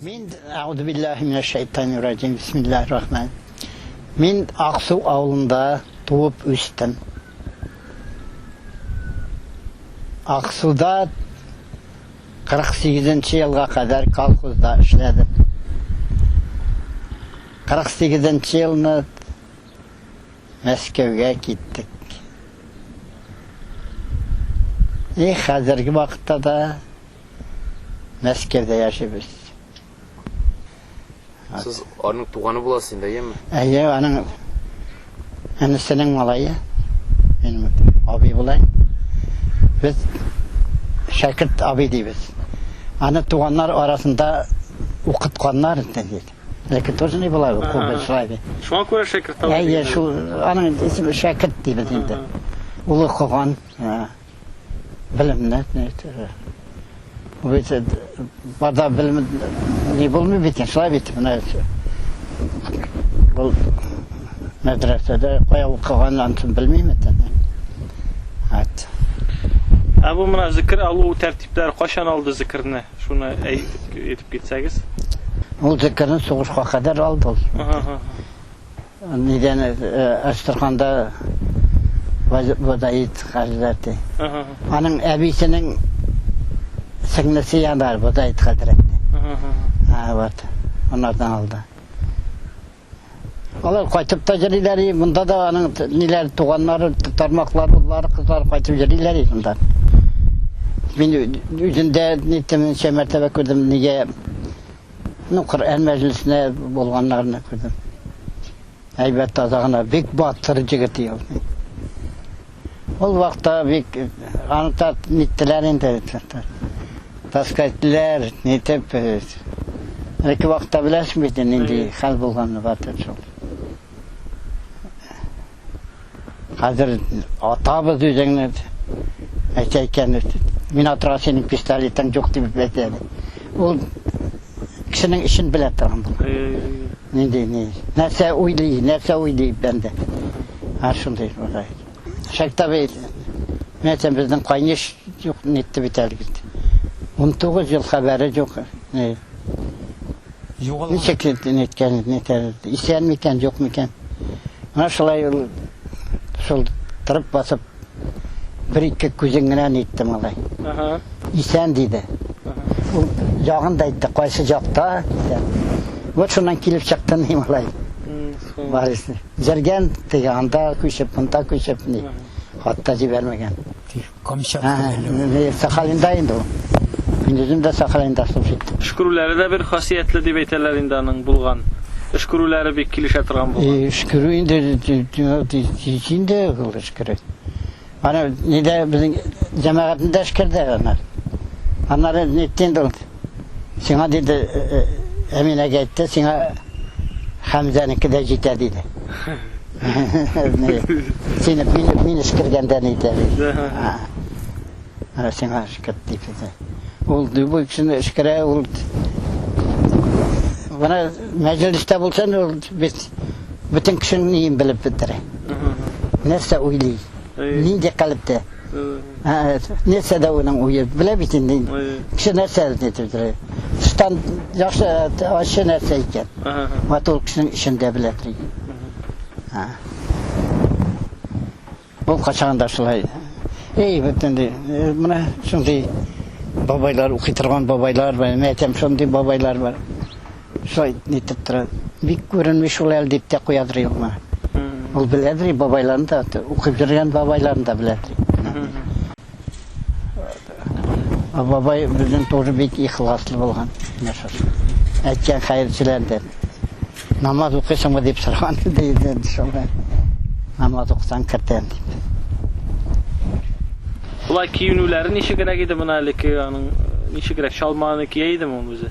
Мин Аудубиллахи минәш шәйтани раҗим, бисмиллахи рахман. Мин Аксу авылында туып үстем. Аксуда 48 нче елга кадәр колхозда эшләдем. 48 нче елны Мәскәүгә киттек. И хәзерге вакытта да Мәскәүдә яшибез. Сез аның туганы буласыз инде, әйеме? Әйе, аның әнисенең малае. Мин абый булай. Без шәкерт абый дибез. Аны туганнар арасында укытканнар инде. Ләкин тоже не була, кулда шулай. Шуңа күрә шәкерт абый. Әйе, шул аның исеме шәкерт дибез инде. Улы куган. Белемне әйтмә бит. Бит бада белем ни булмый бит, шулай бит менә. Бу мәдрәсәдә кая укыган антын белмим бит. Ат. Ә бу менә зикр алу тәртипләре кайчан алды зикрне? Шуны әйтеп әйтеп китсәгез. Ул зикрне сугышка кадәр алды ул. Ага. Нидән Әстерханда Бодаит хәзрәте. Аның әбисенең сеңлесе янар Бодаит хәзрәте. Ага. Вот. Анардан алды. Алар кайтып та җырлыйлар, монда да аның ниләр туганнары, тармаклар, уллары, кызлары кайтып җырлыйлар монда. Мин үзендә нитемнчә мәртәбә күрдем, нигә Ну, Коръән мәҗлесенә булганнарны күрдем. Әйбәт таза гына, бик батыр җегет ул. Ул вакытта бик аны та ниттеләр инде. Таскайтлар, нитеп. Әлеге вакытта беләсең бит нинди хәл булганны батыр шул. Хәзер атабыз үзеңне әйтә икән, мин атырга синең пистолетың юк дип әйтә. Ул кешенең эшен белә торган бул. Нинди ни? Нәрсә уйлый, нәрсә уйлый бәндә. Һәр шундый булгай. Шәктә бит. Мин әйтәм, безнең кайнеш юк нитте бит әле бит. 19 ел хәбәре юк. Ни? Ничек әйткән, исән микән, юк микән. Менә шулай ул шул тырып басып бер-ике күзен генә әйтте малай. Исән диде. Ул ягын да әйтте, кайсы җакта исән. Вот шуннан килеп чыкты ни малай. Барысы. Җәргән теге анда күчеп, монда күчеп ни. Хатта җибәрмәгән. Камчатка. Сахалинда инде ул. Көндезен дә Сахалинда служит. Өшкерүләре дә бер хасиятле дип әйтәләр инде аның, булган. Өшкерүләре бик килешә торган булган. Өшкерү инде тиз инде ул өшкерү. Аны нидә безнең җәмәгатендә эшкәрде аны. Аннары нитте инде ул. Сиңа диде, Әминәгә әйтте, сиңа Хәмзәнеке дә җитә диде. Сине мин эскергәндә ни итә диде. Ә сиңа эскерт диде. Ул любой кешене эскерә, ул Бана мәҗлистә булсын, ул бит бөтен кешене белеп бетерә. Нәрсә уйлый? Нинди калыпта? Нәрсә дә уның уе, белә бит инде. Кеше нәрсә әйтеп тора. Тыштан яхшы, ачы нәрсә икән. Ват ул кешенең эчендә белә тора. Ул качаган да шулай. Эй, бөтенләй. Менә шундый бабайлар укый торган бабайлар бар. Мәтәм шундый бабайлар бар. Шулай итеп тора. Бик күренми шул әле дип тә куядыр юкмы. Ул беләдер и бабайларын да, укып йөргән бабайларын да беләдер и. Ә бабай безнең тоже бик ихласлы булган, менә шушы. Әйткән хәерчеләр дип. Намаз укыйсыңмы дип сораган иде инде шулай. Намаз укысаң кертәм дип. Болай киенүләре ничегрәк иде моны әле ки аның ничегрәк чалманы кия идеме ул үзе?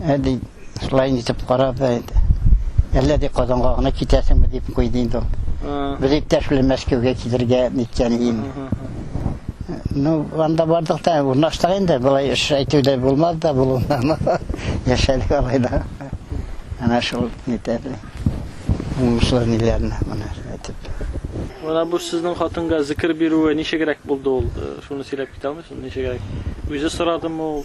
Ә ди, шулай инде итеп карап, әллә ди Казанга гына китәсеңме дип куйды инде ул. Без иптәш белән Мәскәүгә килергә ниткән иде инде. Ну, анда бардык та, урнаштык инде, болай эш әйтү дә булмады да, булуыннан яшәдек алай да. Ана шул нитәде. Уңышлы ниләрне менә әйтеп. Менә бу сезнең хатынга зикер бирүе ничегрәк булды ул? Шуны сөйләп китә алмыйсыз? Ничегрәк? Үзе сорадымы ул?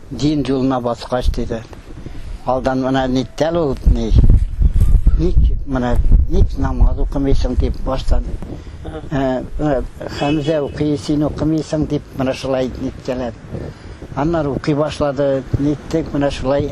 Дин юлына баскач, диде. Алдан менә ниттәл ул, ни? Ник менә ник намаз укымыйсың дип баштан Хәмзә укый, син укымыйсың дип менә шулай ниткәләп. Аннары укый башлады, ниттек менә шулай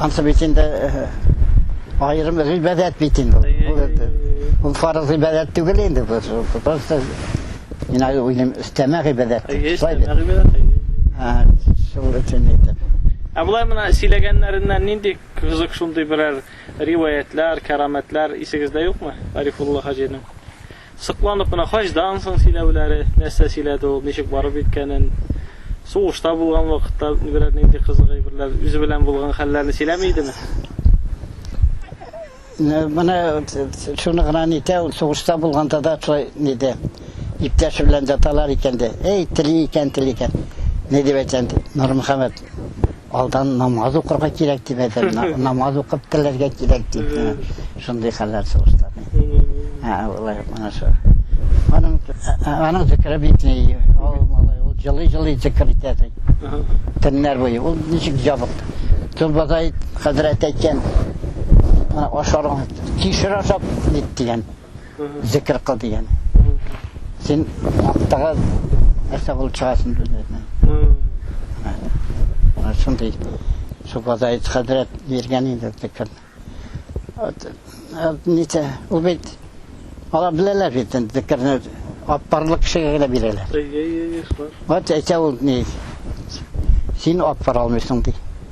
Ансы бит инде айрым гыйбадәт бит инде. Бу фарыз гыйбадәт түгел инде бу. Просто мин ай уйлым өстәмә гыйбадәт. Шулай бит. Ха, шул өчен әйтеп. Ә болай мына сөйләгәннәреннән нинди кызык шундый берәр риваятлар, караметлар исегездә юкмы? Арифулла хаҗиның. Сокланып кына хаҗдан соң сөйләүләре, нәрсә сөйләде ул, ничек барып иткәнен, сугышта булган вакытта берәр нинди кызык әйберләр, үзе белән булган хәлләрне сөйләми идеме? Менә шуны гына әйтә, ул сугышта булганда да шулай диде. Иптәше белән яталар икән дә, әй, тели икән, тели икән. Ни дип әйтәм, Нурмөхәммәт, Алдан намаз укырга кирәк дип әйтәм, намаз укып теләргә кирәк дип. Шундый хәлләр сугышта. Ә алай менә шул. Аның аның зикре битли. Ул малай ул җылый-җылый зикр итә. Төннәр буе ул ничек җабык. Төнбатай хәзрәт әйткән, ашарга кишер ашап бит дигән. Зикер кыл дигән. Син вакыттагы нәрсә булып чыгасың дигән. Шундый Субадай хәзрәт биргән инде зикер. Ничә, ул бит алар беләләр бит зикерне аппарлык кешегә генә бирәләр. Әйе, әйе, шулай. Вот әйтә ул ни. Син аппар алмыйсың ди.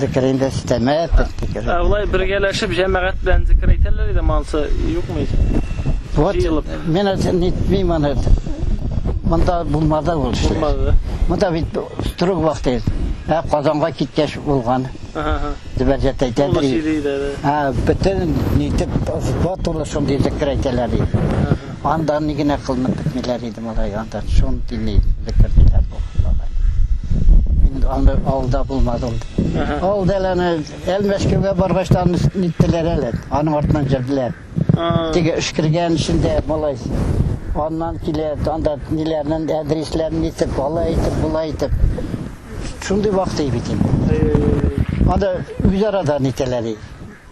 Зикер инде өстәмә. Ә улай бергәләшеп җәмәгать белән зикер әйтәләр иде мансы, юкмы ич? Вот, мен это не мимо нет. Монда булмады ул эшләр. Булмады. Монда бит строг вакыт. Ә Казанга киткәч булган. Ага. Дибәрҗәт әйтә. Ул сөйли иде. А, бөтен нитеп, вот ул шундый зикер әйтәләр иде. Анда ни генә кылынып бетмиләр иде малай, анда шундый ни зикер диләр бу бабай. Мин аны авылда булмадым. Авылда әле аны Әлмәшкәүгә баргач та аны ниттеләр әле, аның артыннан җөрделәр. Теге өшкергән эчендә малай аннан килә, анда ниләрнен әдрисләрен итеп, алай итеп, болай итеп. Шундый вакыт бит инде. Анда үзара да нитәләр.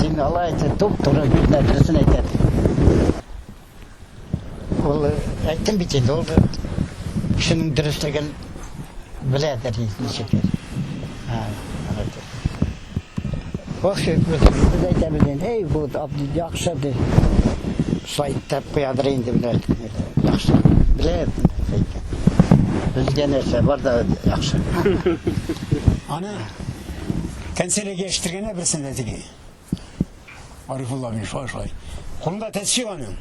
Син алай әйтә, туп туры бит нәрсәсен әйтә. Ул әйттем бит инде, ул кешенең дөрестлеген беләдер ничек. Ха, алайда. Вахши без әйтәбез инде, эй, бу яхшы ди. Сайтта куядыр инде беләр. Яхшы. Беләр. Безгә нәрсә бар да яхшы. Ана Канцелярга яшертергәннәр берсен дә теге. Арифулла абый шулай шулай. Кулында тәсбих аның.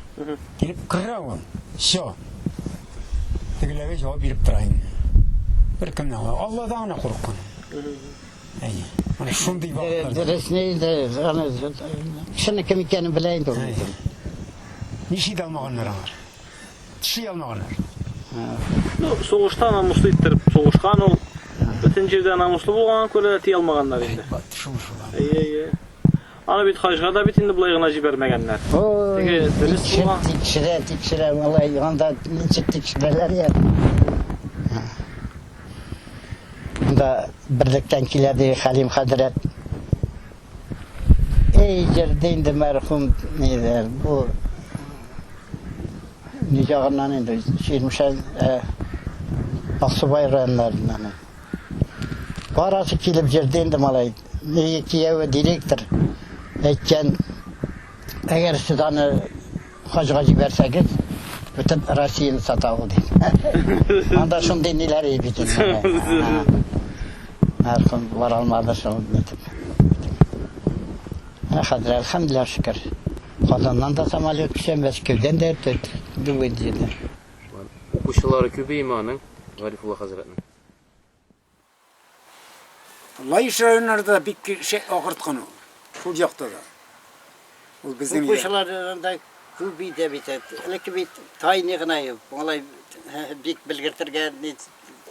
Килеп керә ул. Все. Тегеләргә җавап биреп тора инде. Бер кемнән генә Алладан гына курыккан. Әйе. Менә шундый вакытлар. Дөресне инде аны шуны кем икәнен белә инде. Әйе. Ничек алмаганнар алар? Тиши алмаган. Ну, сугышта намуслы иттереп сугышкан ул. Бөтен җирдә намуслы булганга күрә ти алмаганнар инде. Шул шул. Әйе, әйе. Аны бит хаҗга да бит инде болай гына җибәрмәгәннәр. Теге дөрес булган. Тикшерә, тикшерә, малай, анда ничек тикшерәләр я? Да, берлектән килә ди Халим хәзрәт. Эй, җырды инде мәрхүм нидер, бу ни ягыннан инде, Чирмешән, Аксубай районнарыннан. Барасы килеп җырды инде малай. Нигә кияүе директор әйткән, әгәр сез аны Хаҗга җибәрсәгез, бөтен Россияне сата ул, ди. Анда шундый ниләр ий бит инде. Һәркем бара алмады шул итеп. Ә хәзер, әлхәмдүлилләһ шөкер, Казаннан да самолет төшә, Мәскәүдән дә төрт бүген җиде. Укучылары күбееме аның, Гарифулла хәзрәтнең? Лаеш районнары да бик шәп агырткан ул. Шул якта да. Ул безнең Кукучылардан да күп иде бит. Элекке бит тайны гына юк. Алай бик белгертергә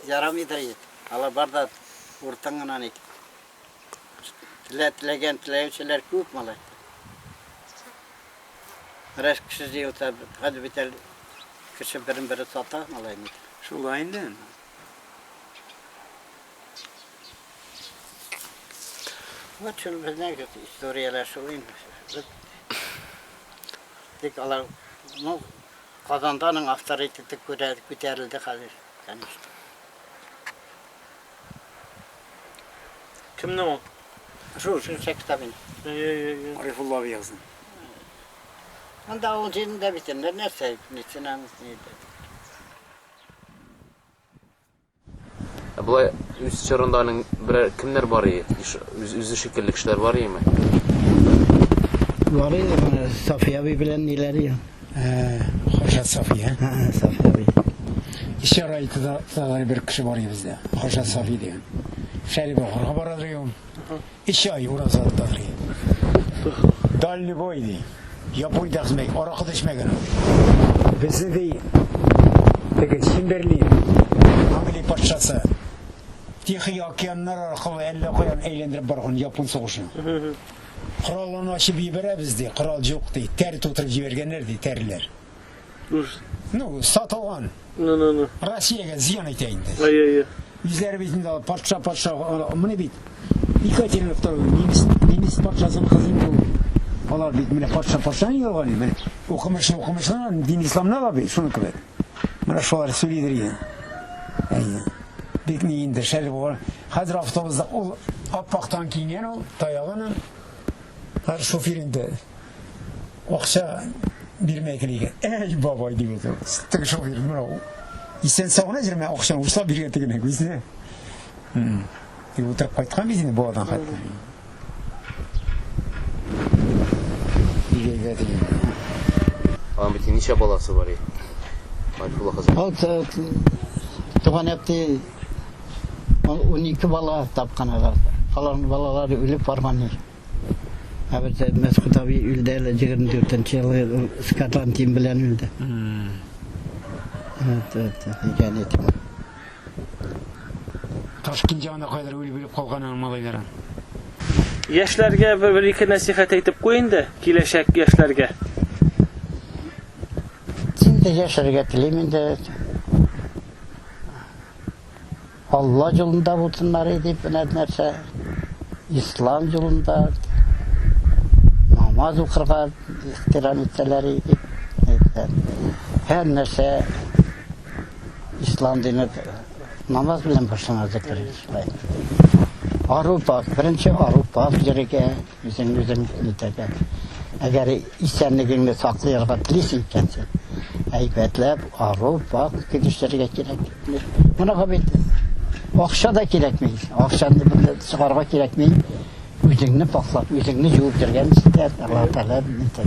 ярамыйдыр ит. Алар бар да уртан гына ник. Теләгән теләүчеләр күп малай. Рәш кеше җыелса, хәзер бит кеше берен-бере сата малай ник. Шулай инде. Вот шул безнең историяләр шул инде. Тик алар, ну, Казанданың авторитеты күтәрелде хәзер, конечно. Кемне ул? Шул, шул сектабин. Арифулла Виязын. Анда ул җирендә бит, нәрсә, медицина, медицина. Ә болай үз чорында аның берәр кемнәр бар ие? Иш- үз- Үзе шикелле кешеләр бар иеме? Бар иде, менә Сафия абый белән ниләр иде. Ә, Хаша Сафия. Ә, ә, Сафия абый. Исә районда да бер кеше бар иде бездә. Хаша Сафи дигән. Шәрибовларга бара иде ул. Өч ай ураза тотарый. Дальневой, ди. Япуй да хзмәй, аракы да эчмәгән ул, ди. Безне, ди, теге Чемберлин, Англия патшасы, Тихий океаннар аркылы әллә каян әйләндереп барган япун сугышын. Коралларны ачып җибәрәбез, ди, корал җук, ди, тәр тутырып җибәргәннәр, ди, тәрләр. Уж. Ну, сатылган. Ну, ну, ну. Россиягә зыян итә инде. Ай, ай, ай. Үзләре бит инде патша, патша, а, менә бит. Екатерина II, немец, немец патшасының кызы инде ул. Алар бит менә патша, патша инде алган инде. Менә укымышлы, укымышлы, дин исламны ала бит, шуны кебек. Менә шулар сөйлидер инде. Ай, бик ни инде шәл булган. Хәзер автобусда ул аппактан киенгән ул, таягын. Хәзер шофер инде. Акча бирмәй генә икән. Әй, бабай, дип әйтә ул. Теге шофер, менә ул. Исән сау гына җөрмә, акчаны учлап биргән тегенә күзенә. И утырып кайткан бит инде баладан хәтта. Бигәйгә дигән. Аның бит ничә баласы бар и? Марфула хәзер. Вот э, туган әпти он ике бала тапкан алар. Аларның балалары үлеп барган. Ә бит Мәсхүт абый үлде әле 24 нче елы скатан тим белән үлде. Вот это, икән ит. Ташкент ягына кадәр үлеп үлеп калган аның малайлары. Яшьләргә бер-ике нәсихәт әйтеп куй инде, киләчәк яшьләргә. Син дә яшәргә телим инде. Алла юлында булсыннар и дип менә нәрсә ислам юлында намаз укырга ихтирам итсәләр и дип һәр нәрсә ислам дине намаз белән башлана зәкер ару пак беренче ару пак йөрергә Үзең үзең нитәргә. Әгәр исәнлегеңне саклыйрга телисең икән син, әйбәтләп арып, вак килешергә кирәк. Моныга бит акча да кирәкми. Акчаны бер чыгарга кирәкми. Үзеңне пакьлап, үзеңне җуып йөргән җитә. Аллаһ Тәгалә нитә.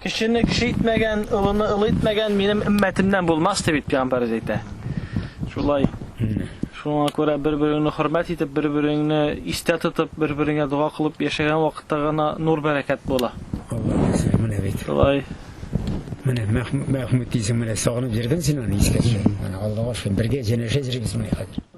Кешене кеше итмәгән, олыны олы итмәгән минем өммәтемнән булмас, дип бит пәйгамбәребез әйтә. Шулай. Шуңа күрә бер-береңне хөрмәт итеп, бер-береңне истә тотып, бер-береңә дога кылып яшәгән вакытта гына нур бәрәкәт була. Аллаһ, менә бит. Шулай. Менә Мәхмүт дисең, менә сагынып йөрдең син аны искә төшереп. Менә Аллага шөкер, бергә җәнәшә җырыйбыз менә хәзер.